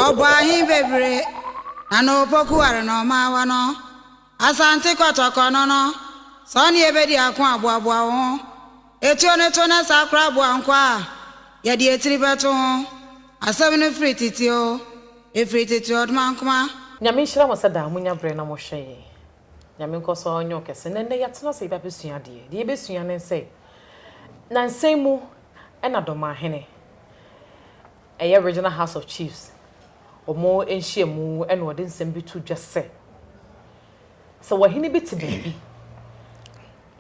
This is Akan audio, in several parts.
Ɔbɔ ahe bebree na na opoku ware na ɔma awa no? Asante Kɔtɔkɔ no no, sɛ ɔne yɛ bɛdi ako a, boaboa wo ho. Etuo no to na saa koraa boa nkwa a yɛde etiri bɛto ho. Asɛm no firi tete oo, efiri tete ɔdmankma. Nyame nhyira mo sɛ daa monya berɛ na mohwɛ yɛn. Nyame nkɔ so ɔnyɛ wo kɛse. Na ndɛ yɛatsena ase yɛbɛabɛsua adeɛ. Deɛ yɛbɛsua ne sɛ, nansa yi mu na Dɔmanhene, ɛyɛ Regional House of Chiefs, wɔn nhyiamu na wɔde nsɛm bi to dwa sɛ, sɛ wɔhene bi te baabi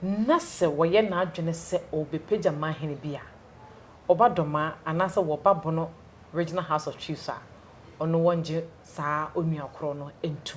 na sɛ wɔyɛ n'adwene sɛ ɔrebɛpagya manhene bi a, ɔba Dɔmaa anaasɛ wɔba Bono Regional House of Chiefs a, ɔno wɔngye saa onua korɔ no ntu.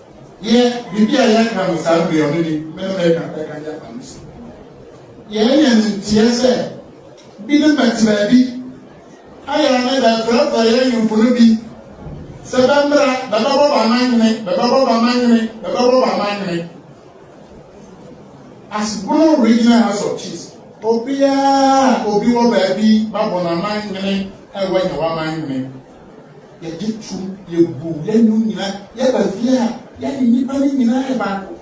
Yɛ biribi a yɛka no saa bere ɔno ni me ne mɛka bɛka de afa no so yɛyɛ no nteɛ sɛ bi ne bɛte baabi ayɛ ne bɛfrɛfrɛ yɛ nyomfo no bi sɛ bɛmmra bɛbɛbɔ bamanyene bɛbɛbɔ bamanyene bɛbɛbɔ bamanyene asebono regional house of chiefs obiara obi wɔ baabi babɔ n'amanyene ɛwɔ nyɛ w'amanyene Yɛgye tom, yɛbu, yɛnu nyinaa, yɛba fie a, yɛne nnipa no nyinaa yɛ baako.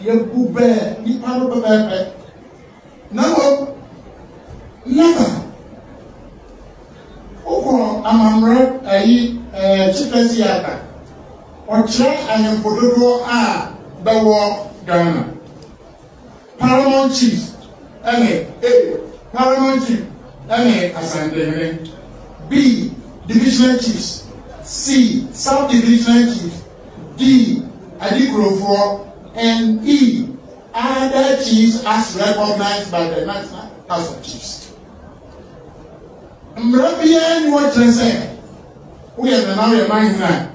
Yɛbu bɛ nnipa no pɛpɛɛpɛ. Na mmom, naba, wokɔ amammerɛ ayi ɛɛ Chipre Theatre, ɔkyerɛ ahemfo dodoɔ a bɛwɔ Ghana. Paramount Chief ne A. Paramount Chief ne Asantehene B. Divisional Chiefs C. Sub-Divisional Chiefs D. Adikurofoɔ and E. Other Chiefs as recognized by the National House of Chiefs. Mmara biara ni hɔ kyerɛ sɛ woyɛ nana woyɛ manhene a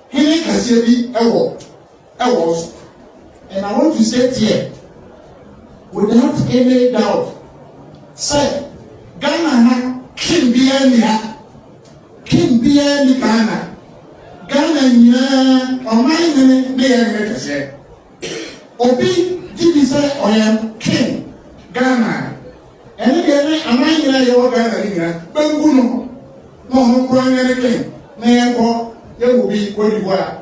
hene kɛseɛ bi wɔ ɛwɔ so. And I want to say here, without any doubt, sɛ Ghana ha king biara ni ha, king biara ni Ghana. Ghana nyinaa ɔman hene ne yɛ hene kɛseɛ. Obi gye bi sɛ ɔyɛ king Ghana. Ɛne deɛ ne aman nyinaa yɛwɔ Ghana ne nyinaa bɛngu no na ɔno koraa nyɛ ne king na yɛnkɔ yɛwɔ bi kɔdibu a.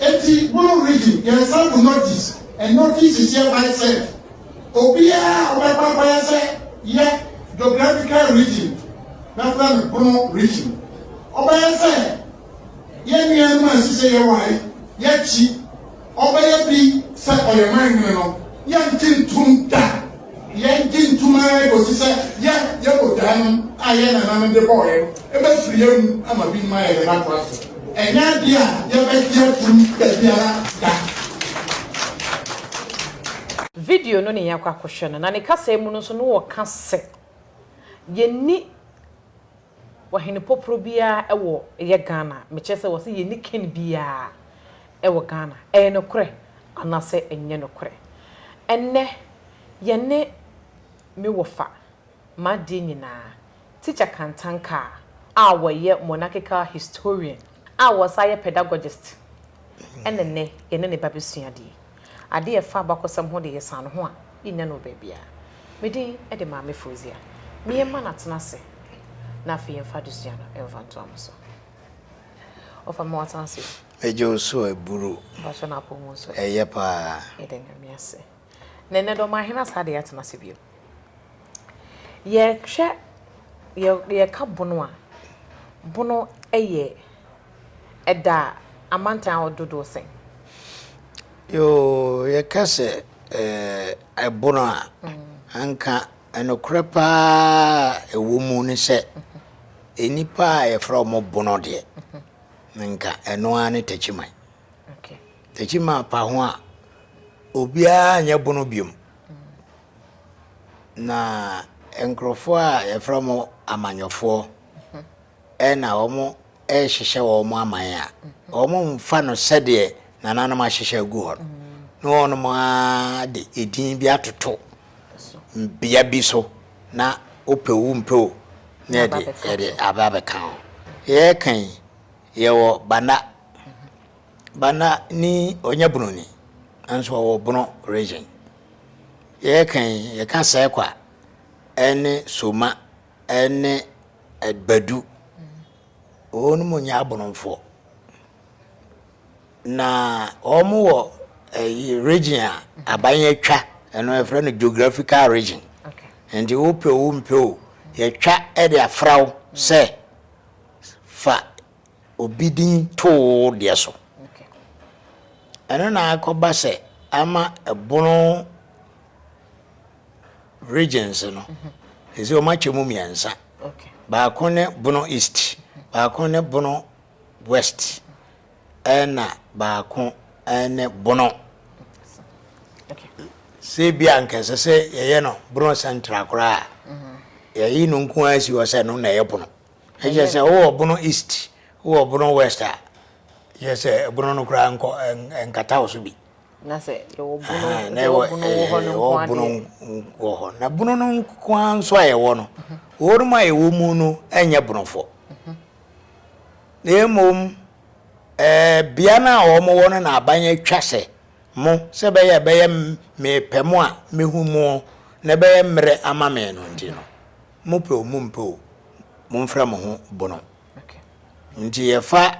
Enti mono reading yɛn sample notice and notices yɛ by self. Obiara a ɔbɛkɔ akɔyɛ sɛ yɛ geographical region bɛfrɛ no bono region. Ɔbɛyɛ sɛ yɛn nuanom a ɛsi sɛ yɛware yɛn akyi ɔbɛyɛ bi sɛ ɔyɛ man hene no yɛngye ntom da. Yɛnte ntom ara kosi sɛ yɛn yɛn botaeɛnom a yɛn nananom de bɔɔɛ no bɛfiri yɛn mu ama binom ayɛ dɛn atra so. Ɛnyɛ adeɛ a yɛbɛgye atom dabiara da. Video no ne yɛn akɔ akɔhwɛ no, na ne kasaa mu no nso no wɔka sɛ yɛnni. Ɔhene poporo biaa ɛwɔ ɛyɛ Ghana mekyerɛ sɛ wɔse yɛnni ken biaa ɛwɔ Ghana ɛyɛ nokorɛ anasɛ ɛnyɛ nokorɛ ɛnnɛ yɛne me wɔfa m'adeɛ nyinaa teacher Kantankaa a wɔyɛ monarchical historian a wɔsan yɛ pedagogist ɛne nnɛ yɛne ne ba bɛsua adeɛ. Ade a ɛfa abakɔsɛm ho de, yɛsan no ho a, yennya no wɔ baabiara. Me din de Maame Fozia. Meyɛ mma no atena ase, na afei yɛmfa adesua no mfa ntoa mo so. Ɔfa ma watena ase o. Megye wo so aburo. Mpakyɛw na apɔw mu nso ɛ? Ɛyɛ paa. Yɛda Nyame ase. Na ɛnnɛ de ɔmaa yɛn asa de atena ase bio. Yɛhwɛ, yɛ, yɛka bono a, bono yɛ. ɛda amantan ahorow dodow sɛn? Yoo, yɛka sɛ ɛboro a, anka nokorɛ pa ara a ɛwɔ mu ne sɛ, nnipa a yɛfrɛ wɔn bono deɛ, anka ɛno ara ne takyiman. Takyiman pa ho a, obiara nyɛ bono biom. Na nkurɔfoɔ a yɛfrɛ wɔn amanyɔfoɔ, ɛna wɔn rehyehyɛ wɔn aman a, wɔmfa no sɛdeɛ nananom ahyehyɛ agu hɔ no, na wɔnom ara de edin bi atoto bea bi so na wopɛ wo mpɛ o na yɛde yɛde aba abɛka ho. Yɛreka yi, yɛwɔ Banda. Banda ni ɔnyɛ Bunoni, nanso ɔwɔ Bono region. Yɛreka yi, yɛka Sɛkwa ɛne Soma ne Agbadu. Wɔnom nyɛ Aborɔfoɔ. Na wɔn wɔ ɛyi eh, region a aban yɛtwa ɛno yɛfrɛ no geographical region. Nti wopɛ o wompɛ o yɛtwa de afra wo sɛ fa obi din too deɛ so. Ɛno na akɔba sɛ ama ɛbono Regions no, ɛsɛ wɔn akyɛ mu mmiɛnsa. Baako ne Bono East, baako ne Bono West, ɛna baako ne Bono. Sɛ bi a nka ɛsɛ sɛ yɛyɛ no Bono Central koraa yɛyi no nko ara si hɔ sɛ no na ɛyɛ Bono. Ɛkyɛ sɛ wowɔ Bono East, wowɔ Bono West a, yɛ sɛ Bono no koraa nkɔ nkata wo so bi. Na sɛ yɛwɔ bunu Aha, na sɛ ɛwɔ yɛwɔ bunu wɔ hɔ no ɛɛ, nko ɛwɔ bunu adeɛ. wɔ hɔ na bunu no nko ara nso a ɛwɔ no wɔnom a ɛwɔ mu no nyɛ bunofo na mmom ɛɛ bea no a wɔwɔ no na aban atwa sɛ mo sɛ ɛbɛyɛ a ɛbɛyɛ m- mepɛ mo a mehu mo na ɛbɛyɛ mmerɛ ama me no nti no mopɛ o mompɛ o momfrɛ mo ho bunu Okay. nti yɛfa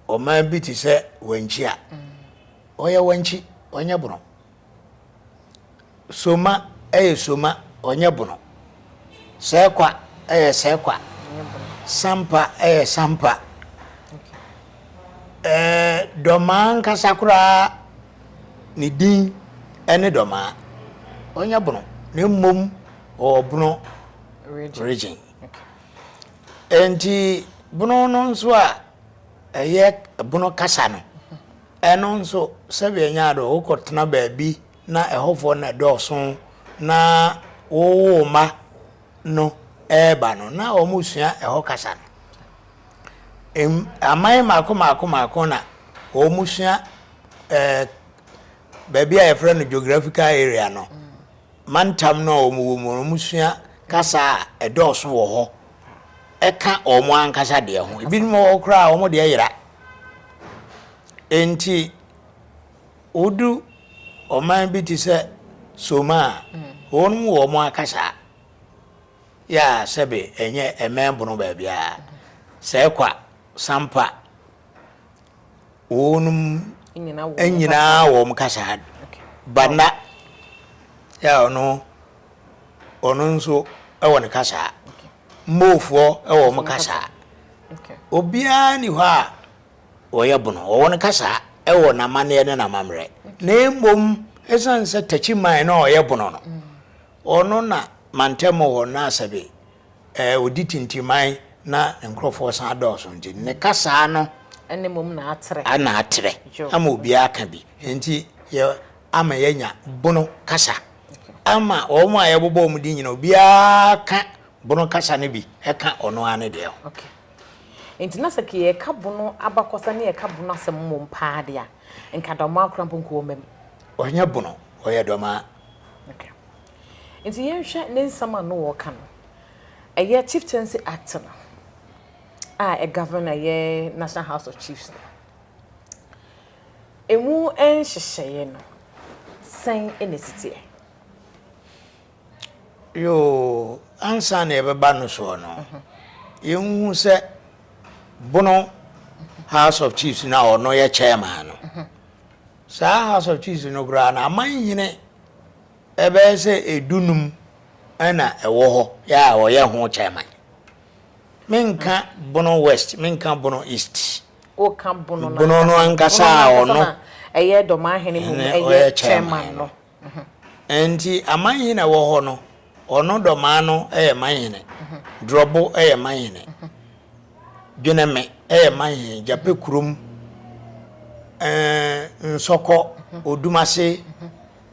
ɔman bi te sɛ wankyi a ɔyɛ wankyi ɔnyɛ bono soma ɛyɛ soma ɔnyɛ bono sɛkwa ɛyɛ sɛkwa sampa ɛyɛ sampa ɛɛ dɔmaa nkasa koraa ne din ɛne dɔmaa ɔnyɛ bono na mmom ɔwɔ bono region. Enti bono no nso a ɛyɛ bono kasa no, ɛno nso sɛbi ɛnyɛ ado wokɔ tena baabi na ɛhɔfoɔ na ɛdɔɔso na wowo ma no ɛɛba no na wɔn sua ɛhɔ kasa no. Aman mako mako mako na wɔn sua ɛɛ baabi a yɛfrɛ no geographical area no. mantam no a wɔwɔ mu no, wɔsua kasa a ɛdɔɔso wɔ hɔ ka wɔn ankasa deɛ ho. Ebinom wɔ hɔ koraa a wɔn deɛ yera. Enti wodu ɔman bi te sɛ Soma a, mm. wɔn mu wɔn akasa yɛ a sɛbe ɛnyɛ ɛmɛn bono baabiara sɛ ɛkwa sampa Wɔnom nyina wɔn kasaa do. Bana a ɔno ɔno nso wɔ ne kasaa. Moofoɔ wɔ wɔn kasaa. Obiara ni hɔ a ɔyɛ bono. Wɔwɔ ne kasaa wɔ n'amanneɛ ne n'amammerɛ. Na mmom ɛsiane sɛ takyiman no a ɔyɛ bono no, ɔno na mantam hɔ no asɛbe ɛɛ, ɔdi tintiman na ne nkurɔfoɔ san dɔɔso nti, ne kasaa no Ɛna mmom na atrɛ. na atrɛ Dwo. ama obiara aka bi. Enti yɛ, ama yɛanya Bono kasa. Ama wɔn a yɛbobɔ wɔn din nyinaa, obiara ka Bono kasa no bi ka ɔno ara ne deɛ ho. Ok. Enti na sɛ nka yɛreka Bono abakɔsɛm ne yɛreka Bono asɛm mmom pa ara deɛ a, nka Dɔmaa koraa mpo nka wɔmmam. Ɔnyɛ Bono, ɔyɛ Dɔmaa. Ok. Nti yɛnhwɛ ne nsɛm a no ɔɔka no. Ɛyɛ Chieftaincy Act no a ɛ govern ɛyɛ National House of Chiefs no. Ɛmu nhyehyɛeɛ no, sɛn na ɛsi teɛ? Yoo, ansa na yɛbɛba no soɔ no, yɛnhu sɛ Bono House of Chiefs no a ɔno yɛ Chairman no, saa House of Chiefs no koraa no, amanhene bɛyɛ sɛ dunum na ɛwɔ hɔ a wɔyɛ ho chairman. Menka Bono West, menka Bono East. Woka Bono no ankasa. Bono no ankasa a ɔno. Ɛyɛ Dɔmanhene mu ɛyɛ chairman no. Nti amanhene a ɛwɔ hɔ no, ɔno Dɔmaa no yɛ manhene, Drɔbo yɛ manhene, Dweneme yɛ manhene, Gyapɛkurom, Nsɔkɔ, Odumase,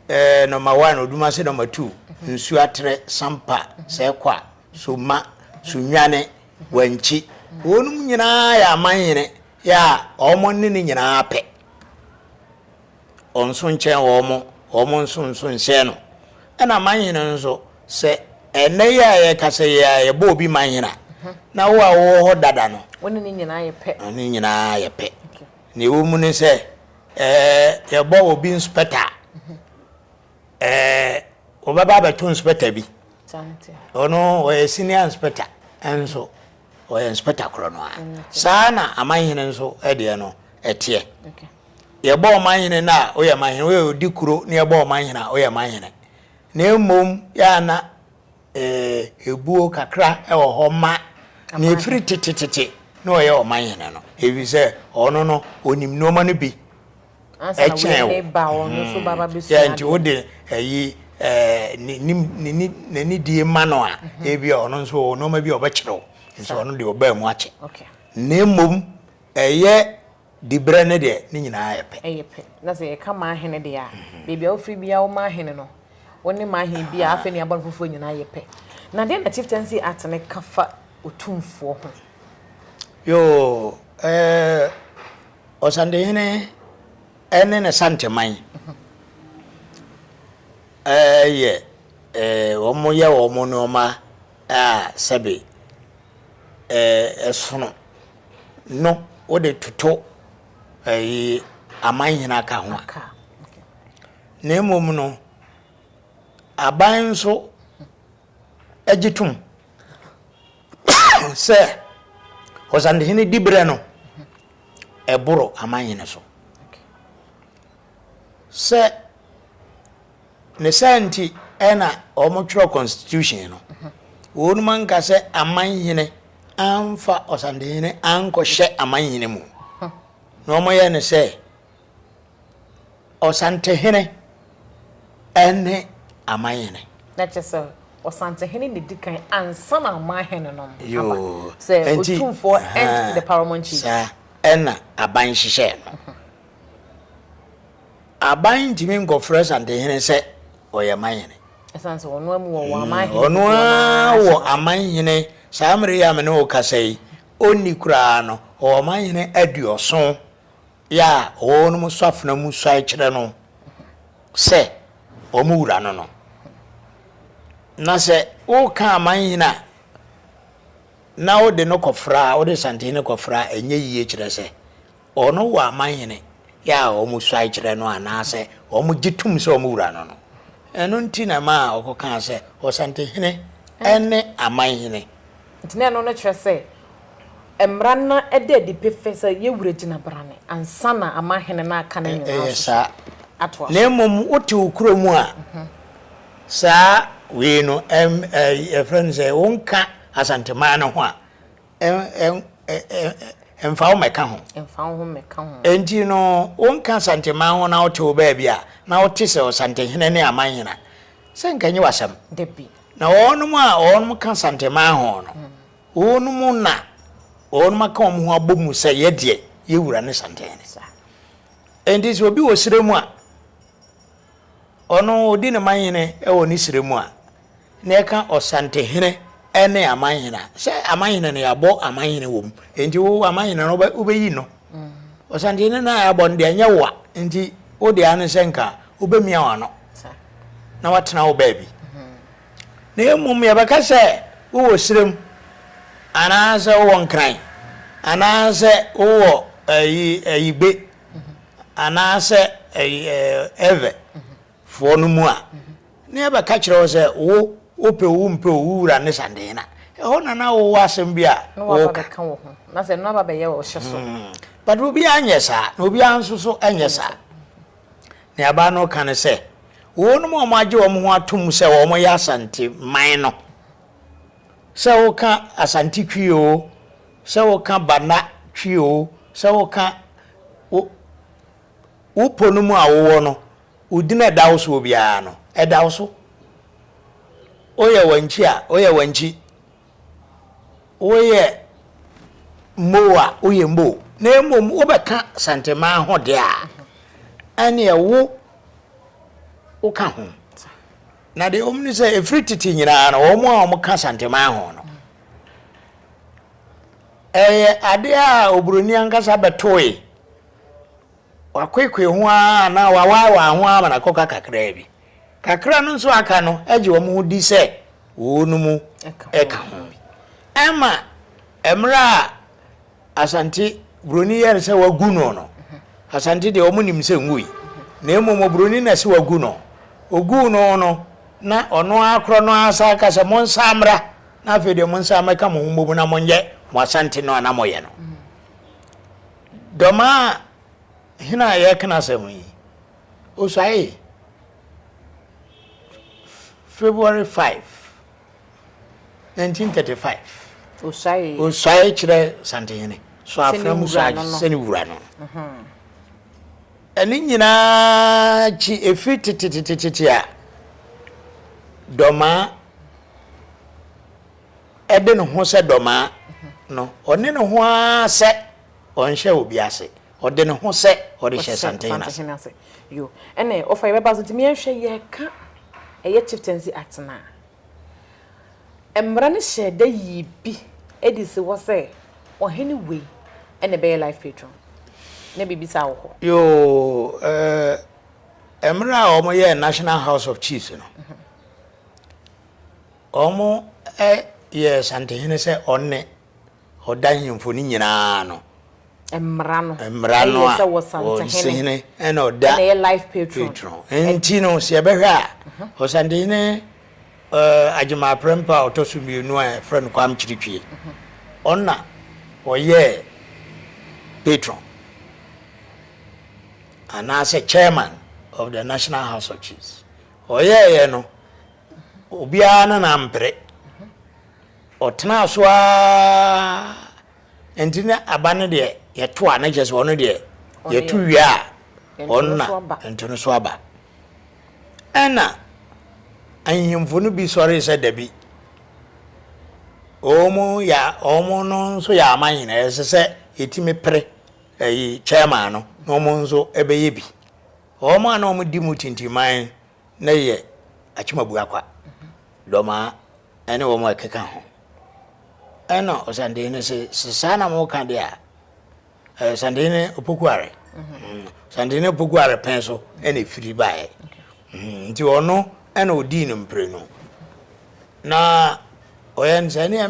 Eh nɔma one oduma se nɔma two nsu atere sampa sɛ kwa so ma so nwane wankyi wɔnom nyinaa yɛ amanyene yɛ a wɔn ne ne nyinaa pɛ ɔnso nkyɛn wɔn wɔn nso nso nhyɛn no ɛna amanyene nso sɛ ɛnɛ yɛ a yɛka sɛ yɛ a yɛbɔ obi manyene a na wo a wowɔ hɔ dada no wɔne ne nyinaa yɛ pɛ ne nyinaa yɛ pɛ Nea ɛwɔ mu ne sɛ, ɛɛ, yɛbɔ obi nspɛta a, ɛɛ, wɔbɛba abɛto nspɛta bi. Ɔno ɔyɛ senior nspɛta nso ɔyɛ nspɛta korɔ no ara. Saa na amanhene nso deɛ no ɛteɛ. Yɛbɔ ɔmanhene no a, ɔyɛ manhene, ɔyɛ ɔdi kuro na yɛbɔ ɔmanhene a, ɔyɛ manhene. Na mmom yɛ a na. Ebuo kakra wɔ hɔ ma nea ɛfiri tetetete na ɔyɛ ɔman hene no, ɛfiri sɛ ɔno no, ɔnim nnoɔma no bi kyɛn wo. Yɛ nti wode ayi n'ani die ma no a, ebi a ɔno nso ɔwɔ nnoɔma bi a ɔbɛkyerɛ wo, nso ɔno deɛ ɔbaa mu akyɛ. Na mmom ɛyɛ Diberɛ no deɛ, ne nyinaa yɛ pɛ. Ɛyɛ pɛ. Na sɛ yɛka m'ahene deɛ a, baabi a wofiri biara wo m'ahene no, wo ne m'ahene biara, afei ne abɔne foforɔ nyinaa yɛ pɛ. Na deɛn na Chieftaincy Act no ka fa otumfoɔ ho? Yoo, eh, Ɔsantehene ne ne Santeman, eh, yɛ, eh, wɔyɛ wɔn nnoɔma a sɛbe ɛsono no wode toto ɛyi amanhene aka ho a na mmom no aban nso agye tom sɛ ɔsantehene diberɛ no ɛboro amanhene so sɛ Ne saa nti na wɔtwerɛ constitution no. Wɔnom anka sɛ amanhene amfa ɔsantehene ankɔhyɛ amanhene mu. Na wɔyɛ no sɛ ɔsantehene ne amanhene. Na kyerɛ sɛ ɔsantehene na ɛdi kan ansa na amanhene nom aba. Sɛ otumfoɔ and the paramount chief. Saa ɛna aban hyehyɛ no. Aban ntumi nkɔfrɛ Asantehene sɛ ɔyɛ manhene. Ɛsiane sɛ ɔno amu wɔ wɔ amanhene dodoɔ no ara hyɛ no ase. Ɔno ara wɔ amanhene, saa mmerɛ yi a me ne wo kasa yi, ɔnni koraa no, ɔwɔ amanhene aduɔso yɛ a ɔwɔ wɔn mu sɔ afena mu suae kyerɛ no sɛ wɔn wura no no. Na sɛ woka amanhene a, na wode no kɔfra, wode Asantehene kɔfra a, ɛnyɛ yie kyerɛ sɛ Ɔno wɔ amanhene yɛ a wɔsuae kyerɛ no anaasɛ wɔgye tom sɛ wɔn wura no no. Ɛno nti na ɛmaa wɔkɔkaa sɛ, Ɔsantehene ne amanhene. Enti na ɛno no kyerɛ sɛ mmara no da adi pefee sɛ yɛn wura gyina brane ansa na amanhene no aka ne nnwuma no so atoa so. Na mmom wote wo kuro mu a, saa wei no, yɛfrɛ no sɛ wonka Asanteman no ho a, mfa wo mmɛka ho. Mfa wo ho mmɛka ho. Enti no, wonka Asanteman ho na wote wo baabi a, na wote sɛ Ɔsantehene ne Amanhene a, sɛ nka ɛnyɛ w'asɛm. Dabi. Na wɔnom a wɔnom ka Asanteman ho no, wɔnom na wɔnom aka wɔn ho abɔ mu sɛ yɛdeɛ, yɛ Wura ne Santehene. Enti sɛ obi wɔ serɛ mu a, Ɔno odi ne man hene wɔ ne serɛ mu a, na ɛka ɔsantehene ne aman hene a. Sɛ aman hene no, yɛabɔ aman hene wɔ mu. Enti wo aman hene no, wobɛyi no. Ɔsantehene no a yɛabɔ no deɛ, ɛnyɛ wo a. Enti wo deɛ ara ne sɛ nka wobɛmia w'ano na watena wo baabi. Na mmom yɛbɛka sɛ wowɔ serɛ mu, anaasɛ wowɔ Nkran, anaasɛ wowɔ ayi, ayigbe, anaasɛ Ewe foɔ no mu a, ne yɛbɛka kyerɛ wo sɛ, wo, wopɛ o wompɛ o, wo wura ne Sandena. Ɛhɔ na na wowɔ asɛm bi a woka. Na sɛ ɛno aba bɛyɛ wo hyɛ so. But obiara nyɛ saa, na obiara nso so nyɛ saa. Nea abaa no reka ne sɛ, wɔnom a wɔagye wɔn ho atom sɛ wɔyɛ Asante man no, sɛ woka Asante Twi o, Sɛ woka Bana Twi oo, sɛ woka wo wo pɔ no mu a wowɔ no, wo din a ɛda wo soɔ biara no, ɛda wo so. Woyɛ Wankyi a, woyɛ Wankyi. Woyɛ Mmow a, woyɛ Mmow. Na mmom wobɛka Santemaa ho deɛ a, ɛnneɛ wo woka ho. Na deɛ wɔn ni sɛ efiri tete nyinaa no wɔn a wɔn ka santeman ho no ɛyɛ adeɛ a oburoni ankasa bɛtoe wakoekoe ho ara anaa wawaaewaa ho ara ma n'akɔka kakraa bi kakra no nso aka no agye wɔn ho di sɛ wɔn mu ɛka ho bi ɛma mmerɛ a Asante buroni yɛre sɛ wagu no no, Asante deɛ wɔn nim sɛ nwui, na mmom oburoni na ɛsɛ wagu no. Oguu no no, na ɔno ara korɔ no ara san ka sɛ monsan mmra na afei deɛ monsan mmɛka mo ho mmom na monyɛ mo Asante no a na moyɛ no. Dɔmaa hene a yɛka n'asɛm yi, osuaee February 5. 1935, Osuae kyerɛ Santenhene so afena mu suae sɛ ne wura no. Ɛno nyinaa akyi, ɛfiri tetetetete a Dɔmaa de ne ho sɛ Dɔmaa no, ɔne ne ho ara sɛ ɔnhyɛ obi ase. Ɔde ne ho sɛ ɔde hyɛ Santehene ase. Santehene ase. Yo. Ɛne ɔfa yɛ bɛba so nti meɛnhwɛ yɛka ɛyɛ Chieftaincy Act no a, mmara no hyɛɛ da yii bi ɛdi si hɔ sɛ ɔhene wei ɛna ɛbɛyɛ Life Patron. Na biribi saa wɔ hɔ? Yo. Ɛɛ, mmra a wɔn yɛɛ National House of Chiefs no, wɔn ɛ yɛɛ Santehene sɛ ɔne ɔda nhemfo no nyinaa no. Mmara no. Mmara no a. Ɛyɛ sɛ wɔsantehene. Ɛna ɔda. Ɛna ɛyɛ life patron. Patron. Nti no sɛ yɛbɛhwɛ a, ɔsantehene uh, Agyema Aprempa a ɔtɔ so mmienu a yɛfrɛ no Kwam Kyirikyie. Ɔna ɔyɛɛ patron anaasɛ chairman of the National House of Chiefs. Ɔyɛɛyɛ no Obiara ne no ampere. Ɔtenaa so ara, ɛnti na aba no deɛ yɛto a, na kyerɛ sɛ ɔno deɛ yɛto wie a, ɔno na ɛnto no so aba. Ɛna ahemfo no bi sɔre sɛ dabi, wɔn yɛ wɔn no nso yɛ aman nyinaa, ɛsɛ sɛ yɛtumi pere ɛyi chairman no na wɔn nso ɛbɛyɛ bi. Wɔn a na wɔdi mu tintiman na yɛ Akyemabua kwa, Dɔmaa ɛne wɔn a ɛkeka ho. Ɛna Ɔsandehene se, se saa na mo ka de a, Ɔsandehene Opokuare, Ɔsandehene Opokuare pɛn so ɛna efiri baeɛ. Nti ɔno ɛna ɔdii no mprenu. Na ɔyɛ no sɛ, neɛ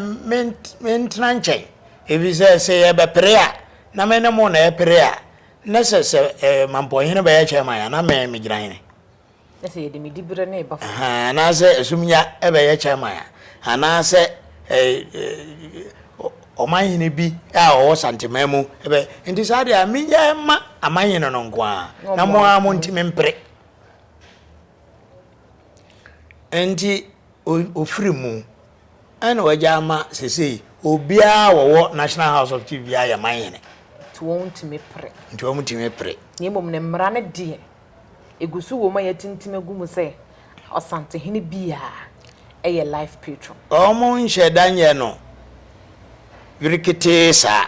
mentena nkyɛn, ɛfiri sɛ, sɛ yɛbɛpere a, na me ne mo na ɛpere a, Na sɛ sɛ ɛɛ mampɔnhene bɛyɛ chairman a, na mɛn megyina hene. Na sɛ yɛde me diberɛ ne ba. Ahaa, anaasɛ ɛsomnya bɛyɛ chairman a, anaasɛ ɛɛ ɔmanhene bi a ɔwɔ Santeman mu bɛ. Nti saa deɛ a, menyɛ mma amanhene no nko ara, na mo ara mo ntimi mpere. Nti ɔfiri mu Ɛna wagya ama sesei obiara a wɔwɔ National House of Chief biara yɛ man hene. Nti wɔn ntumi pere. Nti wɔn ntumi pere. Na mmom ne mmara no deɛ, egu so wom a yɛatintim agu mu sɛ Ɔsantehene biara yɛ life patron. Wɔn nhyɛ da nyɛ no bereketee saa.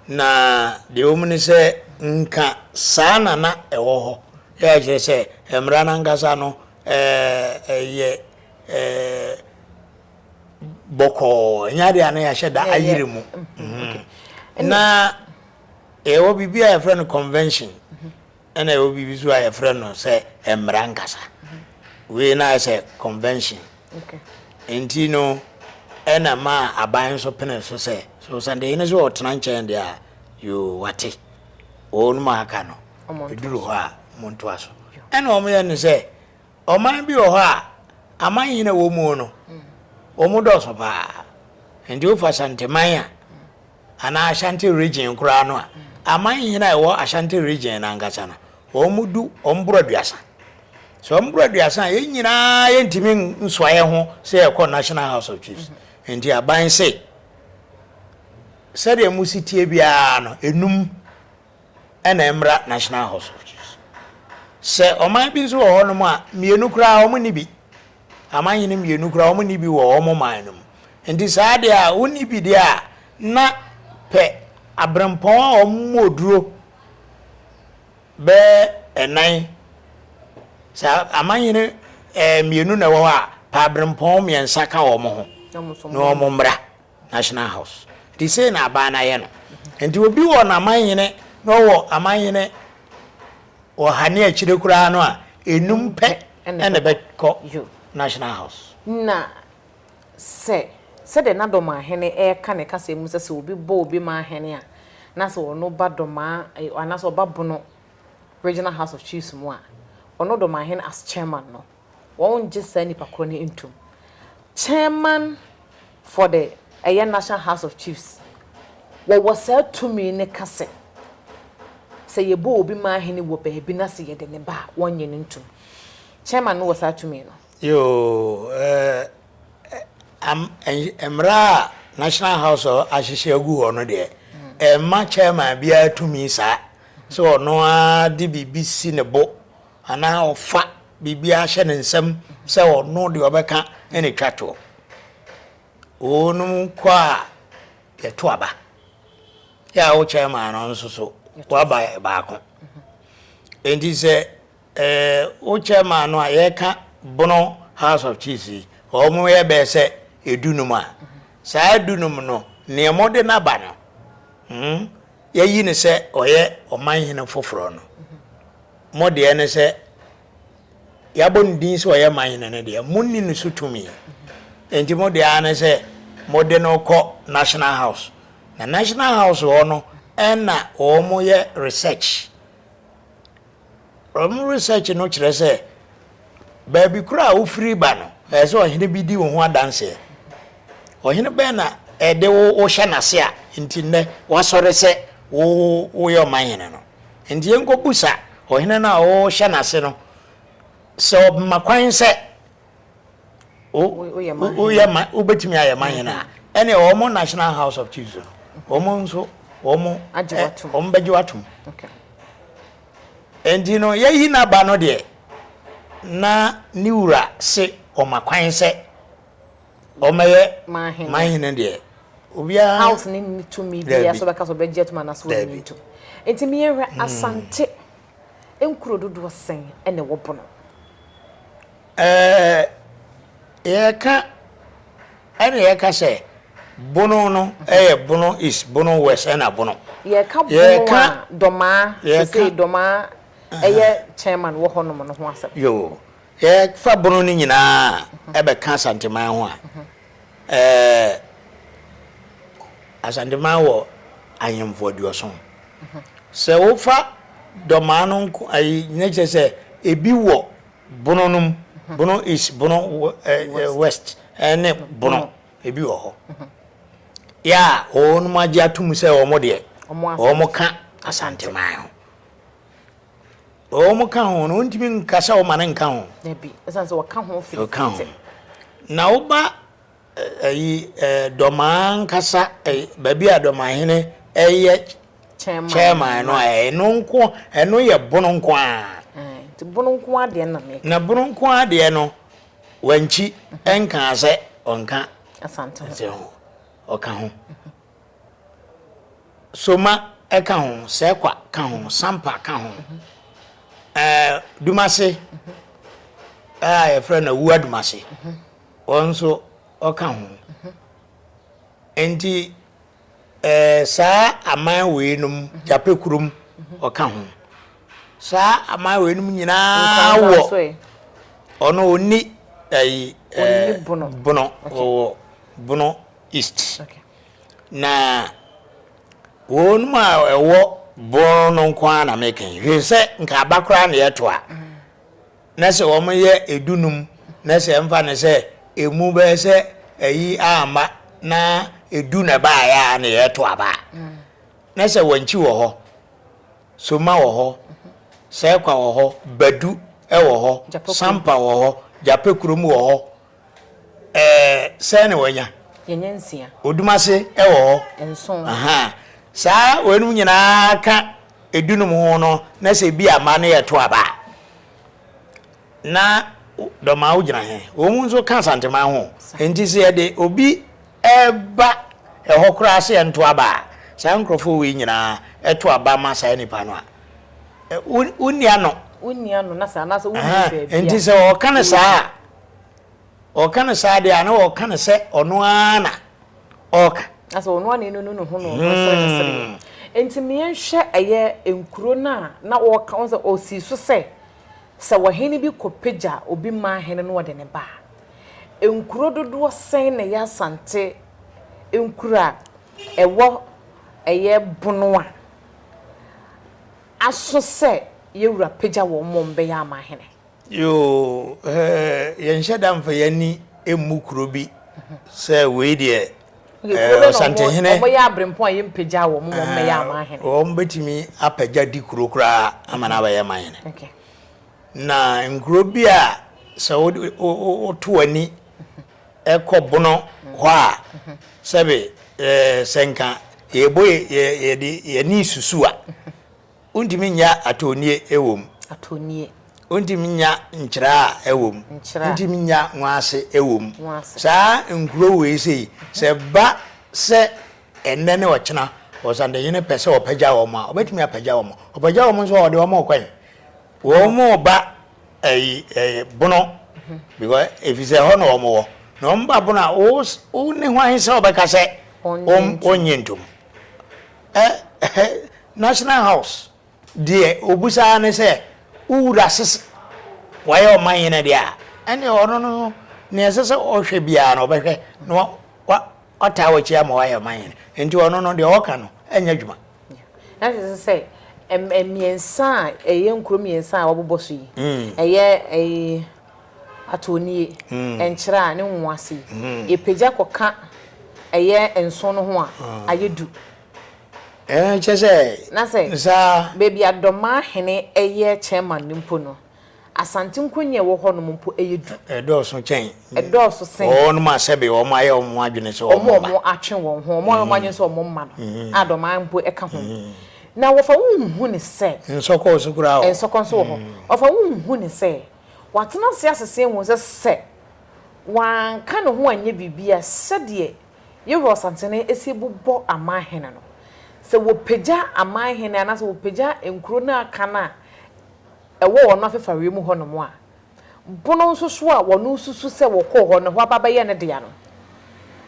Na deɛ ɛwɔ mu ne sɛ, nka saa na na ɛwɔ hɔ a ɛkyerɛ sɛ mmara no ankasa no yɛ. bɔkɔɔ ɛnyɛ adeɛ a na yɛahyɛ da ayere mu mm-hmm. na ɛwɔ biribi a yɛfrɛ no convention mm-hmm. ɛna ɛwɔ biribi so a yɛfrɛ no sɛ mmara nkasa mm-hmm. wei na ayɛ sɛ convention nti no ɛna ma aban nso pene so sɛ so sɛdeɛ ne sɛ ɔtena nkyɛn deɛ a yoo wate wɔnom aka no ɛduru hɔ a montoa so ɛna wɔyɛ ne sɛ Ɔman bi wɔ hɔ a, amanhene a wɔwɔ mu no, wɔdɔɔso paa. Nti wofa Ashantiman a, anaa Ashanti Region koraa no a, amanhene a ɛwɔ Ashanti Region no ankasa no, wɔdu, wɔboro aduasa. Sɛ wɔboro aduasa a, yɛn nyinaa yɛntumi nsoa yɛn ho sɛ yɛkɔ National House of Chiefs. Nti aban se, sɛdeɛ mosi tie biara no, enum na ɛmmra National Hospitals. Sɛ ɔman bi nso wɔ hɔnom a, mmienu koraa wɔnni bi. Amanhene mmienu koraa wɔnni bi wɔ wɔn man no mu. Nti saa adeɛ a wonni bi deɛ a, na pɛ aberempɔn a wɔmmɔ oduro bɛyɛ ɛnan. Sɛ amanhene ɛɛ mmienu na ɛwɔ hɔ a, pɛ aberempɔn mmiɛnsa ka wɔn ho na wɔmmra. National House. Nti sei na aban no ayɛ no. Nti obi wɔ n'amannyene na ɔwɔ amannyene wɔ ha ne akyire koraa no a, nnum pɛ na ɛbɛkɔ National House. Na sɛ sɛdeɛ na Domaa hene reka ne kasa mu sɛ sɛ obi bɔ obi man hene a, na sɛ ɔno ba Domaa anaasɛ ɔba Bono Regional House of Chiefs mu a, ɔno Domaa hene as chairman no, Wɔngye saa nipa korɔ no ntum. Chairman for the ɛyɛ National House of Chiefs wɔwɔ saa tumi no ka sɛ, sɛ yɛbɔ obi ma ahene wɔ baabi na sɛ yɛde no ba a, wɔngye no ntum. Chairman no wɔ saa tumi no. Yoo, ɛɛ, mmara a National House of ahyehyɛ agu hɔ no deɛ, ɛmma chairman biara tumi saa sɛ ɔno ara de biribi si ne bo. anaa ɔfa biribiara hyɛ ne nsam sɛ ɔno deɛ ɔbɛka na ɛtwa toɔ. Wɔnom kɔ a yɛto aba. Yɛ a wo chairman no nso so waba baako. Enti sɛ eh, wo chairman no a yɛka bono House of Chiefs yi, wɔn yɛ bɛyɛ sɛ edunum a, saa dunum no nea wɔde n'aba no, hmm, yɛyi no sɛ ɔyɛ ɔmanhene foforɔ no. Mo deɛ ne sɛ yɛabɔ ne din sɛ ɔyɛ man no ne deɛ, monni ne so tumi. Enti mo deɛ ara ne sɛ mode no kɔ National House. Na National House hɔ no na wɔyɛ research. Wɔn research no kyerɛ sɛ Baabi koro a wofiri ba no, ɛsɛ sɛ ɔhene bi di wo ho adanseɛ. Ɔhene bɛn na ɛde wo wohyɛ n'ase a nti nnɛ woasɔre sɛ wo woyɛ ɔmanhene no? Nti yɛnkɔbusa ɔhene no a wohyɛ n'ase no sɛ ɔma kwan sɛ wobɛtumi ayɛ manhene a, ɛne wɔn National House of Chiefs no wɔn nso wɔn bɛgye watom. Enti no, yɛayi n'aba no deɛ, na ne wura se ɔma kwan sɛ ɔmmɛyɛ manhene deɛ, obiara. House no nni tumi biara sɛ ɔbɛka sɛ ɔbɛgye atom anaasɛ ɔrenyi ntom. Enti me yɛnhwɛ, Asante nkuro dodoɔ sɛn na ɛwɔ Bono? Ɛɛ, Yɛka ɛna yɛka sɛ Bono no ɛyɛ Bono East, Bono West ɛna Bono. Yɛka Bono a Dɔmaa sesei Dɔmaa ɛyɛ Chairman wɔ hɔ nom no ho asɛm. Yoo, yɛfa Bono no nyinaa ɛbɛka Asanteman ho a, ɛɛ Asanteman wɔ Ahemfo aduɔson. Sɛ wofa Dɔmaa no nko ayi na kyerɛ sɛ ebi wɔ. Bono no mu, Bono East, Bono West ne Bono ebi wɔ hɔ yɛ a wɔn agye atom sɛ wɔn deɛ wɔn ka Asanteman ho. Wɔn ka ho no wɔntumi nka sɛ wɔma no nka ho. Dabi, ɛsan sɛ wɔka ho firi. Wɔka ho. Na woba Ɛyi ɛyɛ Dɔmaa ankasa, baabi a Dɔmahene yɛ chairman no, ɛno nko, ɛno yɛ Bono nko ara. Nti Bono nko ara deɛ na meka. Na Bono nko ara deɛ no, Wankyi nkaa sɛ ɔnka Asante ho, ɔka ho. Soma ka ho, Sɛkwa ka ho, Sampa ka ho, ɛɛ Dumase a yɛfrɛ no Awua Dumase. Wɔn nso ɔka ho. Enti ɛɛ saa aman wei nom, Jape kurom ɔka ho. Saa aman wei nom nyinaa wɔ ɔno ɔni ɛyi ɛɛ bono ɔwɔ bono east. Na wɔn nom a ɛwɔ bono no nko ara na meka yi. Hwɛ sɛ nka aba koraa na yɛto a. Na sɛ wɔn yɛ edu num na sɛ ɛmfa no sɛ emu bɛyɛ sɛ ayi amma na edu na ɛbaeɛ a na yɛto aba a na sɛ wankyi wɔ hɔ soma wɔ hɔ sɛkwa wɔ hɔ badu wɔ hɔ sampa wɔ hɔ gyapɛ kurom wɔ hɔ Ɛɛ sɛn na wɔanya? Yɛnya nsia. Odum ase wɔ hɔ. Nson. Aha. Saa wɔinom nyinaa ka edunom ho no na sɛ bi ama no yɛ to aba a, na dɔmaa wogyina he? Wɔn nso ka Asanteman ho. Nti sɛ yɛde obi ba ɛhɔ koraa sɛ yɛnto aba a, saa nkurɔfoɔ wei nyinaa to aba ma saa nipa no a, wonni ano. Wonni ano na sɛ anaasɛ wonni baabi a. Nti sɛ wɔka no saa a, Ɔka no saa deɛ a, na ɔka no sɛ ɔno ara na ɔka. Na sɛ ɔno ara na ɛnunu ne ho na ɔno sere ne sereɛ. Enti me yɛnhwɛ ɛyɛ nkuro no a na ɔka, wohu sɛ ɔsii so sɛ, sɛ ɔhene bi kɔpagya obi maa hene na ɔde no ba a, nkuro dodoɔ sɛn na ɛyɛ Asante nkuro a ɛwɔ ɛyɛ Bono a aso sɛ yɛwura pagya wɔn ma wɔbɛyɛ amahene? Yoo hɛɛ yɛnhyɛ da nfa yɛn ani mmu kuro bi sɛ wei deɛ ɛɛ Ɔsantehene. Wɔn yɛ abrempɔn a yɛn mpagya wɔn ma wɔn mɛyɛ amanhene. Wɔn bɛtumi apagya di kuro koraa ama na abɛyɛ amanhene. Na nkuro bi a sɛ wo wo woto w'ani ɛkɔ bono hɔ a sɛbe ɛɛ sɛnka yɛbɔ yɛ yɛde yɛn ani susu a Wontumi nnya atɔnnie ɛwom. Atɔnnie. Wontumi nnya nkyerɛ a ɛwom. Nkyerɛ a. Wontumi nnya nwaase ɛwom. Nwaase. Saa nkuro wei sei, sɛ ɛba sɛ ɛnnɛ ne ɔkyena Ɔsantehene pɛ sɛ ɔpagya wɔn a, ɔbɛtumi apagya wɔn. Ɔpagya wɔn nso a, ɔde wɔn rekɔ he? Wɔn reba ɛyi ɛyi Bono, because efisɛ ɛhɔ na wɔn wɔ. Na wɔn ba Bono a, wo ne hwan sɛ wobɛka sɛ wonnye ntom? Ɛhɛ, National House, deɛ ɔbisa ara ne sɛ, Wo Wura Sisi, wayɛ Ɔmanhene deɛ a, ɛnneɛ ɔno no, deɛ ɛsɛ sɛ ɔhwɛ biara no, ɔbɛhwɛ na wataa w'akyi ama woayɛ Ɔmanhene. Enti ɔno no, deɛ ɔka no nyɛ adwuma. Na kyerɛ sɛ sɛ mmiɛnsa a ɛyɛ nkuro mmiɛnsa a wɔabobɔ so yi, ɛyɛ ɛyi. Atɔnnie, nkyerɛ a ne nwowa ase yi, yɛpagya kɔka ɛyɛ nson no ho a, ayɛ du. Ɛɛ, kyerɛ sɛ, Na sɛ, saa. baabi a Dɔmaa hene yɛ chairman no mpo no, Asante Nkonya a ɛwɔ hɔnom mpo, ɛyɛ du. Ɛdɔɔso kyɛn. Ɛdɔɔso sen. Wɔnom a sɛbe wɔayɛ wɔn ho adwene sɛ wɔn mma. Wɔn a wɔatwe wɔn ho, wɔn a wɔayɛ wɔn adwene sɛ wɔn mma no, a Dɔmaa mpo ka ho. Na wɔfa wo nhu no sɛ. Nsɔkɔ nso koraa wɔ hɔ. Nsɔkɔ nso wɔ hɔ. Wɔfa wo nhu no sɛ. Watena ase asese ahu sɛ sɛ wanka ne ho anyɛ biribi a, sɛdeɛ Yehowa Ɔsansani si bobɔ aman hene no, sɛ wɔpagya aman hene anaasɛ wɔpagya nkuro no a aka no a ɛwɔ wɔn afefareɛ mu hɔnom a, Bono nso so a wɔsusu sɛ wɔkɔɔ hɔ no, ɛhɔ aba bɛyɛ ne dea no,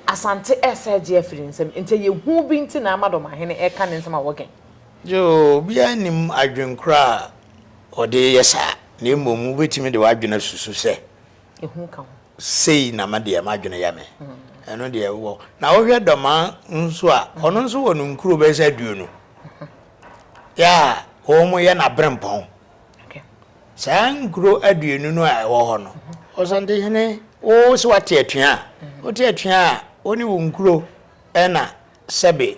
Asante resa agye afiri ne nsam. Enti ɛyɛ hu bi nti na ama Dɔmahene reka ne nsɛm a wɔgɛn. Yoo, obiara nnim adwenkora a wɔde reyɛ saa, na mmom wubetumi de w'adwene asusu sɛ, Ehu ka ho. Sei na ma deɛ m'adwene yɛ me. Ɛno deɛ wowɔ. Na wohwɛ Dɔmaa nso a, ɔno nso wɔ no nkuro bɛyɛ sɛ aduonu. Yaa, wɔyɛ no aberempɔn. Saa nkuro aduonu no a ɛwɔ hɔ no, Ɔsantehene, wo sɛ woate atua a, wote atua a, wo ne wo nkuro ɛna sɛbe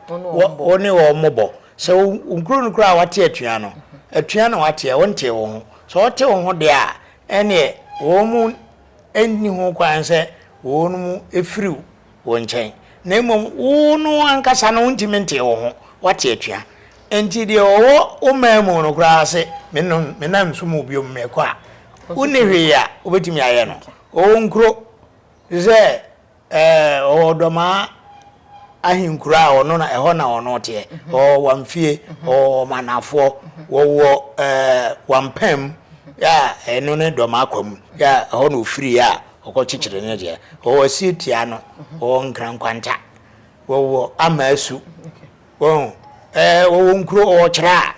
Wo ne wɔn mmobɔ. Sɛ wo kunu no koraa a wate atua no, atua na wateɛ, wontee wo ho. Sɛ ɔte wo ho deɛ a, ɛnneɛ wɔn nni ho kwan sɛ wɔnom firi wo nkyɛn. Na mmom wo no ankasa no wontumi ntee wo ho, wate atua. Enti deɛ ɔwɔ wo man mu no koraa se menna nsom wo biom, mekɔ a, wonni hwee a wobɛtumi ayɛ no. Ɔwɔ nkuro te sɛ Ɛɛ, ɔwɔ ɔdɔmaa ahenkuro a ɔno na ɛhɔ na ɔno teɛ. Ɔwɔ Wamfie, ɔwɔ Manafoɔ, wɔwɔ ɛɛ Wampam a ɛno ne dɔmaa kwamu a ɛhɔ na ɔfiri a ɔkɔ kyekyere ne deɛ. Ɔwɔ Asietia no, ɔwɔ Nkrankwanta, ɔwɔ Amasu, wɔn ɛɛ ɔwɔ nkuro ɔwɔ Kyerɛ a.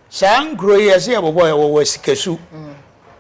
Saa nkuro yi ɛsɛ yɛbobɔ yɛ wɔwɔ Asikasu.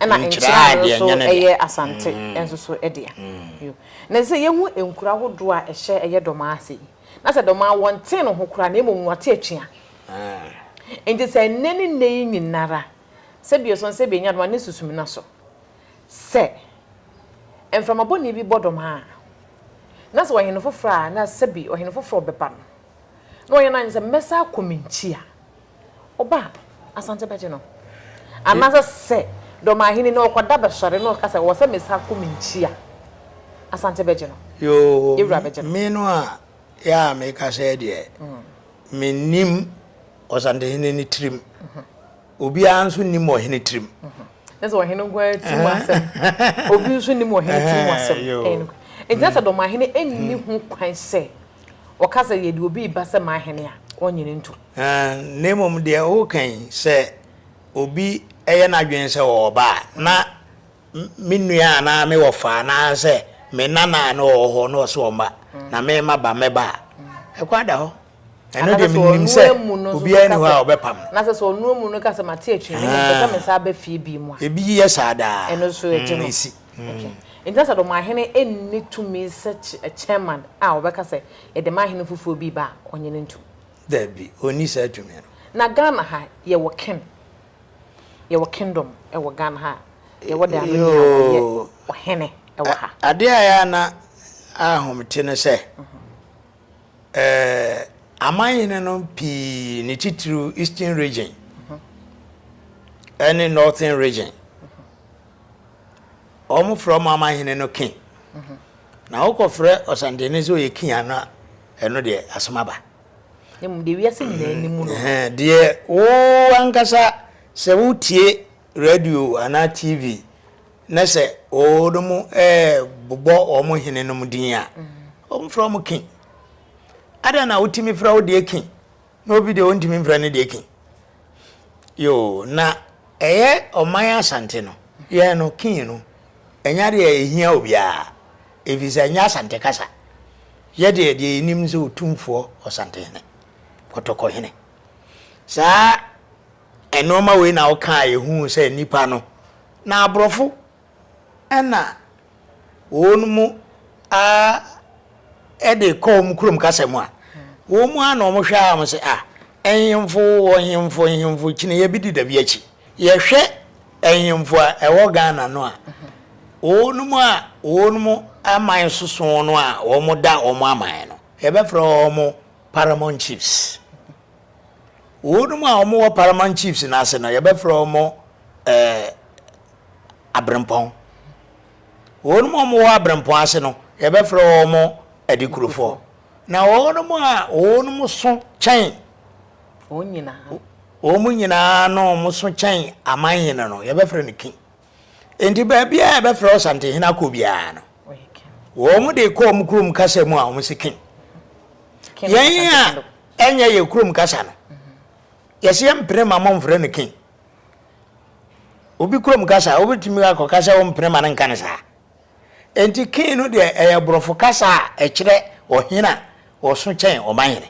Ɛna nkyene ano nso yɛ Asante nso so dea. Na ɛsɛ sɛ yɛhu nkuro ahodoɔ a ɛhyɛ ɛyɛ Dɔmaa ase yi. Na sɛ Dɔmaa wɔntee no ho koraa na mmom wɔte atua. Nti sɛ nnɛ ne nnɛ yi nyinara sɛ bia ɛsɔn sɛ bɛnya Dɔmaa ne Susumina so. Sɛ mframa bɔne bi bɔ Dɔmaa a, na sɛ ɔhene foforɔ a na sɛbi ɔhene foforɔ bɛba no na ɔyɛ no adwene sɛ mɛsan akɔ me nkyi a, Ɔba a, Asante bɛgye no. Anaasɛ sɛ Dɔmahene no ɔkɔda bɛsɔre na ɔka sɛ ɔwɔ sɛ mesan kɔ me nkyi a, Asante bɛgye no. Yoo, Ewura bɛgye no. me no a yɛ a meka sɛ deɛ mennim Ɔsantehene no tirim. Obiara nso nnim Ɔhene tirim. Kyerɛ sɛ Ɔhene nko ara tirim asɛm. Obi nso nnim Ɔhene tirim asɛm. Ɛɛ, yoo. Ɛnti na sɛ Dɔmahene nni ho kwan sɛ. Wɔka sɛ, Yɛde obi reba sɛ m'ahene a, ɔnnye no ntom. Na mmom deɛ woka yi, sɛ obi yɛ n'adwene sɛ ɔwɔ ba a, na me nua anaa me wɔfa anaasɛ me nana a na ɔwɔ hɔ na ɔse ɔmma, na merema ba, mɛba a, ɛkwan da hɔ. Ɛno deɛ menim sɛ obiara ni hɔ a ɔbɛpam no. Anaasɛ sɛ ɔno amu no ka sɛ, Mate akyiri no, mmom mepɛ sɛ mesan ba fie bio mu a. Ebi yɛ saa daa. Ɛno nso, ɛgye no. Okay. Nti na sɛ dɔmahene nni tumi sɛ chairman a ɔbɛka sɛ yɛde ma hene foforɔ bi ba a, ɔnye no ntu? Dabi, ɔnni saa tumi no. Na Ghana ha, yɛwɔ ken? Yɛwɔ kingdom wɔ Ghana ha a? Yɛwɔ the anoni a ɔyɛ ɔhene wɔ ha? Adeɛ a ɛyɛ a na ahom te ne sɛ, amanhene no pii ne titiriw Eastern region ne Northern region, Wɔfrɛ wɔn amanhene no king. Na wokɔfrɛ ɔsantene sɛ ɔyɛ king a na ɛno deɛ asɛm aba. Na mmom deɛ wiase nyinaa nim no. Ɛhɛn, Deɛ wo ankasa sɛ wotie radio anaa TV na sɛ wɔnom bobɔ wɔn henenom din a, wɔfrɛ wɔn king. Adɛn na wotumi frɛ wo deɛ king? Na obi deɛ ɔntumi mfrɛ ne deɛ king yoo na ɛyɛ ɔman asante no yɛn no king no ɛnyɛ adeɛ a ɛhia obiara ɛfiri sɛ ɛnyɛ asante kasa yɛdeɛ deɛ yɛnim sɛ ɔtumfoɔ ɔsantehene kɔtɔkɔhene saa ɛnoɔma wei na wokaa yɛhuu sɛ nnipa no na aborɔfo Nna hɔn mu ara de kɔ hɔn kurom kasa mu a, hɔn mu ara na wɔhwɛ ara wɔse, Ah, nhemfo wɔ nhemfo nhemfo kyiniyɛ bi deda bi akyi. Yɛhwɛ nhemfo a ɛwɔ Ghana no a, hɔn mu a hɔn mu aman soso no a wɔda hɔn aman no, yɛbɛfrɛ hɔn Paramount Chiefs. Hɔn mu a wɔwɔ Paramount Chiefs no ase no, yɛbɛfrɛ hɔn eh, aberempɔn. Wɔnom a wɔwɔ aberempɔn ase no, yɛbɛfrɛ wɔn adikurofoɔ. Na wɔnom a wɔnom so kyɛn Wɔn nyinaa. wɔn nyinaa no a wɔn so kyɛn amanhene no, yɛbɛfrɛ no king. Enti baabi a yɛbɛfrɛ Ɔsantehene akɔ biara no, Ɔyɛ king. wɔn de kɔ wɔn kurom kasa mu a, wɔn se king. King Yɛn a Asante Kado. ɛnyɛ yɛn kurom kasa no, yɛse yɛmpene mma wɔmfrɛ no king. Obi kurom kasa a, wobɛtumi akɔka sɛ wompene ma no nka no saa. Enti King no deɛ ɛyɛ borɔfo kasa a ɛkyerɛ ɔhene a ɔso kyɛn ɔmanhene.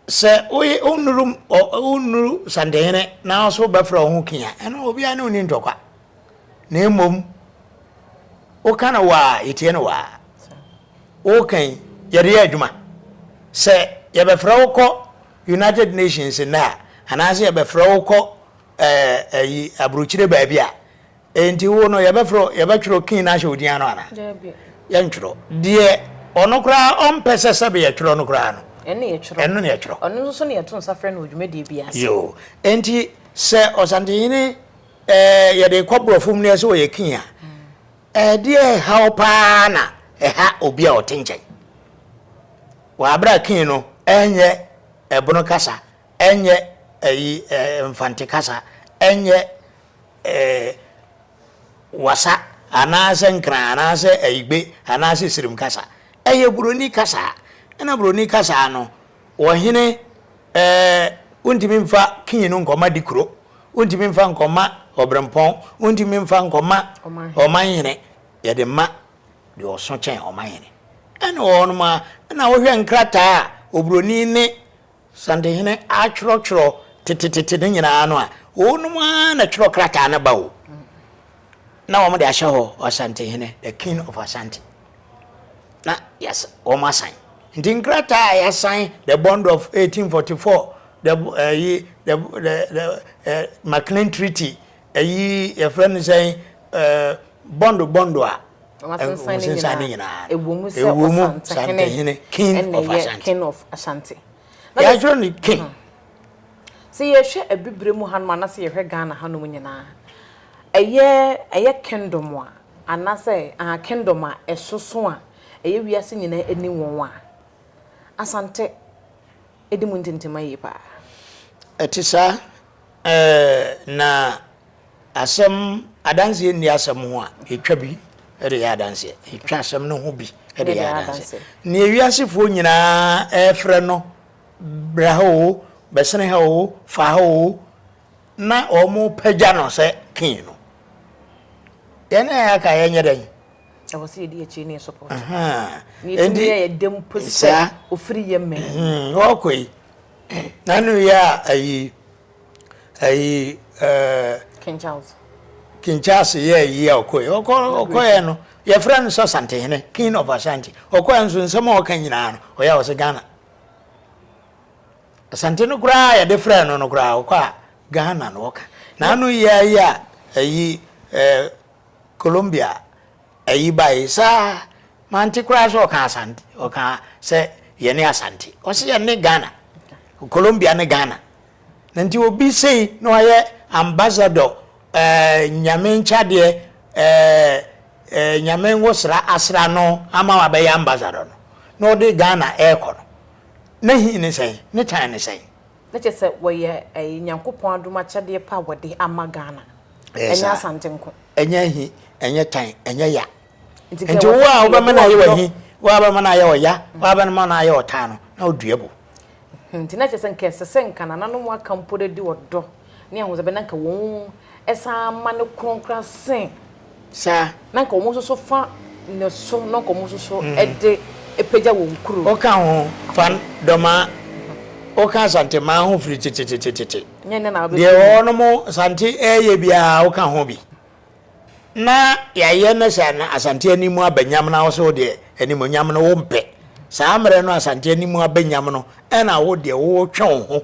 Sɛ woye wonuru wonuru Santehene na wo nso wobɛfrɛ wo ho King a, ɛno obiara ne wo nni ntɔkwa. Na mmom woka no wɔ a yɛtie no wɔ a. Woka yi yɛde yɛ adwuma. Sɛ yɛbɛfrɛ wo kɔ United Nations nnɛ a, anaasɛ yɛbɛfrɛ wo kɔ ɛɛ ayi aburokyire baabi a, enti wo no yɛbɛfrɛ wo yɛbɛtwerɛ wo kin no ahyɛ wo din ano anaa? Daabi. Yɛntwerɛ. Deɛ ɔno koraa ɔmpɛ sɛ sɛbe yɛtwerɛ no koraa no, Ɛno na yɛtwerɛ. ɛno na yɛtwerɛ. Ɔno nso so na yɛto nsa frɛ no wɔ dwumadie biara ase. Yoo. Enti sɛ Ɔsantehene ɛɛ yɛde kɔ borɔfo mu na sɛ ɔyɛ king a, ɛdeɛ ɛha wo pa ara na ɛha obi a ɔte nkyɛn? Wɔ aber a King no nnyɛ Ebon kasa, nnyɛ ayi Mfantse kasa, nnyɛ Wasa anaasɛ Nkran anaasɛ Ayigbe anaasɛ Sirim kasa. Ɛyɛ Broni kasa. Nna Broni kasa no wɔ hene wontumi mfa King no nkɔma Dikuro, wontumi mfa nkɔma Ɔbrempɔn, wontumi mfa nkɔma Ɔmanhene, yɛde ma deɛ ɔso kyɛn ɔmanhene. Ɛne wɔ hɔnom ara na wohwɛ nkrataa a oburoni ne Santehene atwerɛtwerɛ tetetete no nyinaa no a, wɔnom ara na ɛtwerɛ krataa no ba o, na wɔde ahyɛ hɔ Ɔsantehene, the King of Asante, na yɛasa wɔn asan. Nti nkrataa a yɛasan the bond of 1844, the, uh, the, the, the uh, McLean Treaty, Ɛyi yɛfrɛ no sɛn ɛɛ bɔndo bɔndo a. Wɔasensan ne nyinaa. Ɛwɔ mu sɛ Ɔsantehene king of Ashanti. King of Ashanti. Yɛatwerɛ no king. Sɛ yɛhwɛ abibire mu hanom anaasɛ yɛhwɛ Ghana hanom nyinaa, ɛyɛ ɛyɛ kingdom a anaasɛ aha kingdom a ɛsoso a ɛyɛ wiase nyinaa ani wɔn a, Asante. di mu ntɛmntɛmma yie pa ara. Ɛte saa ɛɛ na asɛm adanseɛ nni asɛm ho a ɛtwa bi de yɛ adanseɛ, ɛtwa asɛm no ho bi de yɛ adanseɛ. Nea ewiasefoɔ nyinaa ɛrefrɛ no bra ha oo, bɛsene ha oo, fa ha oo, na wɔrepagya no sɛ king no, yɛn a yɛaka yɛnyɛ dɛn? ɛwɔ sɛ yɛdi akyire ne yɛ support yɛtumi yɛ yɛde mpo sɛ ofiri yɛ mmɛn hmm, ɔkɔ yi nanu yɛ a ayi ayi ɛɛ King Charles King Charles yɛ ayi a ɔkɔ yi ɔkɔ ɔkɔ yɛ no yɛfrɛ no sɛ Santehene King of Ashanti ɔkɔ yɛ nso nsɛm a ɔka nyinaa no ɔyɛ a ɔsɛ Ghana Asante no koraa yɛde frɛ no no koraa ɔkɔ a Ghana na ɔka nanu yɛ ayi a ayi ɛɛ. Colombia ayi bae saa mante koraa sɛ ɔka Asante ɔka sɛ yɛne Asante ɔsɛ yɛne Ghana Colombia ne Ghana na nti obi sei na ɔyɛ ambassador ɛɛ eh, nyame nkyadeɛ ɛɛ eh, ɛɛ eh, nyame nwosra asra no ama wabɛyɛ ambassador no na ɔde Ghana ɛɛkɔ no na hin ne sɛn ne tan ne sɛn Na kyerɛ sɛ wɔyɛ ɛyi Nyankopɔn adom akyɛdeɛ pa a wɔde ama Ghana. Ɛyɛ Ɛnyɛ saa. Asante nko. Ɛnyɛ ahi, ɛnyɛ tan, ɛnyɛ ya. Nti kɛ Nti wo a wɔtete wobɛma yɛde no ayɛ ɔdɔ. w'ahi, wo a wobɛma no ayɛ ɔya, wo a wobɛma no ayɛ ɔtan no, na wodua bo. Hmm, nti na kyerɛ sɛ nka ɛsɛ sɛ nka nananom aka mpo de de ɔdɔ ne ahosɛpɛ na nka wɔn san ma no korɔn koraa sen saa. Na nka wɔn nso so fa ne so na nka wɔn nso so de pagya wɔn kuro. Woka ho fa Dɔmaa, woka Asantemaa ho firi tetetetete. Nyɛ nnɛ na wobɛfiri mu. Deɛ wɔnom Asante ɛreyɛ biara woka ho bi. Na yɛayɛ na sɛ Asante anim aba nyam na wo so deɛ animuonyam no wompɛ. Saa mmerɛ no Asante anim abɛnyam no ɛna wo deɛ wotwe wo ho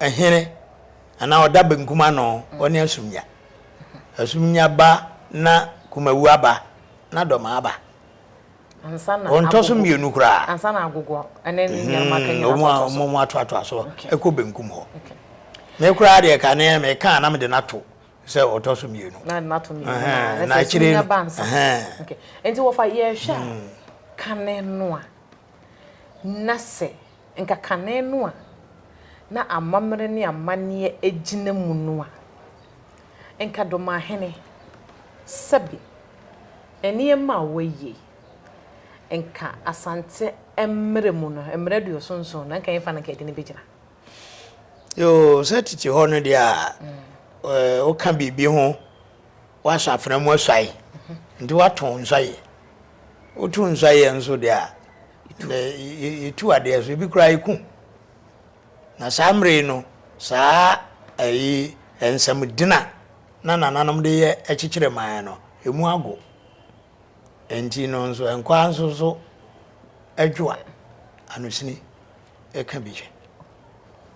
Hene anaa ɔda benkum ano, ɔne asumnya. Asumnya ba na Kumawu aba na Dɔma aba. Wɔntɔ so mmienu koraa. Ansa na Agogo ne ne nuanom aka nyinaa so atɔ so. Wɔn atoatoa so kɔ benkum hɔ. Me koraa deɛ ka ne meka na mede no ato sɛ ɔtɔ so mmienu. Na de no ato mmienu. Na akyire no. Nti wɔfa yɛhwɛ a kane no a na sɛ Nka kane no a na amammerɛ ne amanneɛ gyina mu no a nka Domahene Sɛbi nneɛma a wɔayi, nka Asante mmerɛ mu no, mmerɛ aduoso nson no, anka yɛmfa no anka yɛde no bɛgyina. Yoo, sɛ tete hɔ no deɛ a, woka biribi ho. Woasɔ afena mu asuae nti woato nsɔeɛ. Woto nsɔeɛ nso deɛ a, na yɛtu adeɛ so, ebi koraa yɛku. Na saa mmerɛ yi no, saa ayi nsɛmdina na nananom de yɛ kyekyere man no, emu ago. Enti no nso, nkɔa nso so adwoa anosini. ɛka bi kyɛ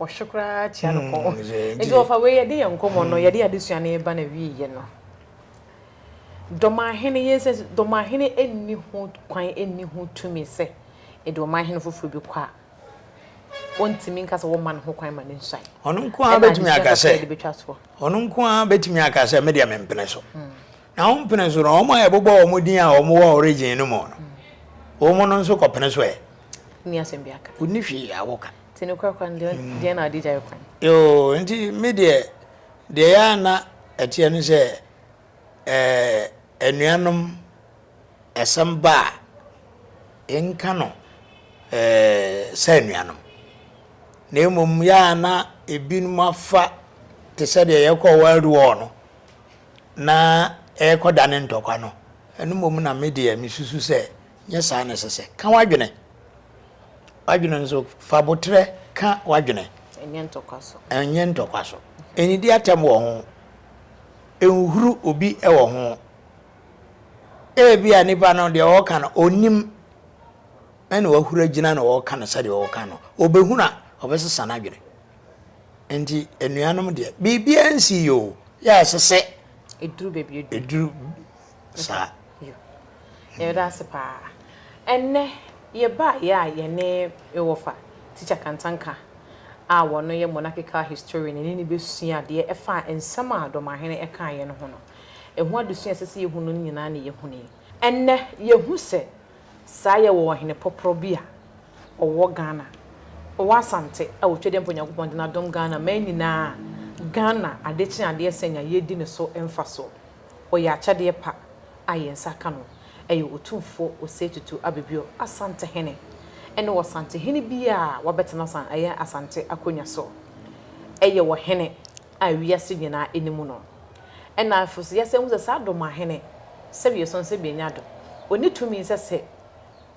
ɔhwe koraa kyia no kɔn hmm, nti ɔfa wei yɛde yɛn nkɔmmɔ no hmm. yɛde adesua no yɛba na wieɛ no dɔmahene yɛn sɛ dɔmahene ɛnni ho kwan ɛnni ho tumi sɛ ɛde ɔmahene foforɔ bi kɔ a ɔntumi nka sɛ wɔma no ho kwan ma no nsuan ɔno nko ara bɛtumi aka sɛ ɔno nko ara bɛtumi aka sɛ medeɛ mempene so hmm. Na wɔn pene so no, wɔn a yɛbobɔ wɔn din a wɔn wɔ origin no mu no, wɔn no nso kɔpene so ɛ. Nni asɛm bi aka. Wonni hwee a wɔka. Nti no korakora no, deɛ na ade gyae kwan. Yoo, nti me deɛ, deɛ ɛyɛ a na ɛteɛ ne sɛ, anuanom, asɛm ba a, yɛnka no sɛ anuanom. Na mmom yɛ a na ebinom afa te sɛ deɛ yɛkɔɔ World War no, na ɛrekɔdane ntɔkwa no, ɛno mmom na me deɛ mesusu sɛ nyɛ saa na ɛsɛ sɛ. Ka w'adwene. W'adwene nso, fa boterɛ ka w'adwene. Ɛnyɛ ntɔkwa so. Ɛnyɛ ntɔkwa so. Ɛnnidi atɛm wɔ ho. Ɛnhuru obi wɔ ho. Ebia nipa no deɛ ɔreka no ɔnnim ɛna wahuru agyina na ɔreka no sɛdeɛ ɔreka no. Ɔbɛhunu a, ɔbɛsesa n'adwene. Nti anuanom deɛ biribiara nsi yɛ o yɛ a ɛsɛ sɛ ɛduru baabi ɛduru ɛduru saa yɛda ase paa ɛnɛ yɛbaeɛ a yɛne yɛwɔfa tikya kantanka a wɔno yɛ monarchical historian ɛne ne bɛsua adeɛ ɛfa nsɛm a dɔmahene ɛkaeɛ no ho no ɛho adesua ɛsɛ sɛ yɛhu no nyinaa na yɛhunui ɛnɛ yɛhu sɛ Saa yɛ wɔ ɔhene pɔprɔ bi a ɔwɔ Ghana, ɔwɔ Asante a ɔtwa dɛ mpo Nyankopɔn de no adom Ghana mmaa nyinaa a Ghana adekye adeɛ sɛn a yɛredi no so mfasoɔ. Ɔyɛ akyɛdeɛ pa a yɛn nsa ka no. Ɛyɛ Otumfoɔ Osei Tutu Abibio, Asantehene, ɛne Ɔsantehene biara a wabɛtena san ɛyɛ Asante akonnwa so. Ɛyɛ ɔhene. a wiase nyinaa ani mu no. Ɛnna afei nso yɛsan hu sɛ saa dom ahene, sɛdeɛ yɛsua no sɛ bɛnya dom, ɔnni tumi sɛ sɛ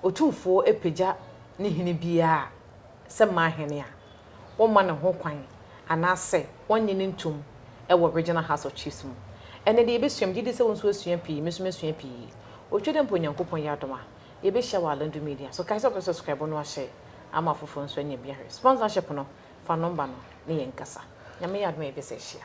otumfoɔ apagya ne hene biara a, sɛ mmaa hene a, wɔmma no ho kwan anaasɛ wɔnnye no ntom wɔ Regional House of Chiefs mu. Ɛnnɛ deɛ yɛbɛsua, megye di sɛ wo nso woasua pii, me nso masua pii. Ɔtwa dɛ mpo Onyankopɔn yɛ adom a, yɛbɛhyia wɔ Alandu Media so. Kae sɛ wobɛsɔskraibo na woahyɛ ama afoforɔ nso anya bi ahwɛ. Sponsor hyɛ pono Fa nɔmba no ne yɛn nkasa. Nyame yɛ adom a yɛbɛsan ahyia.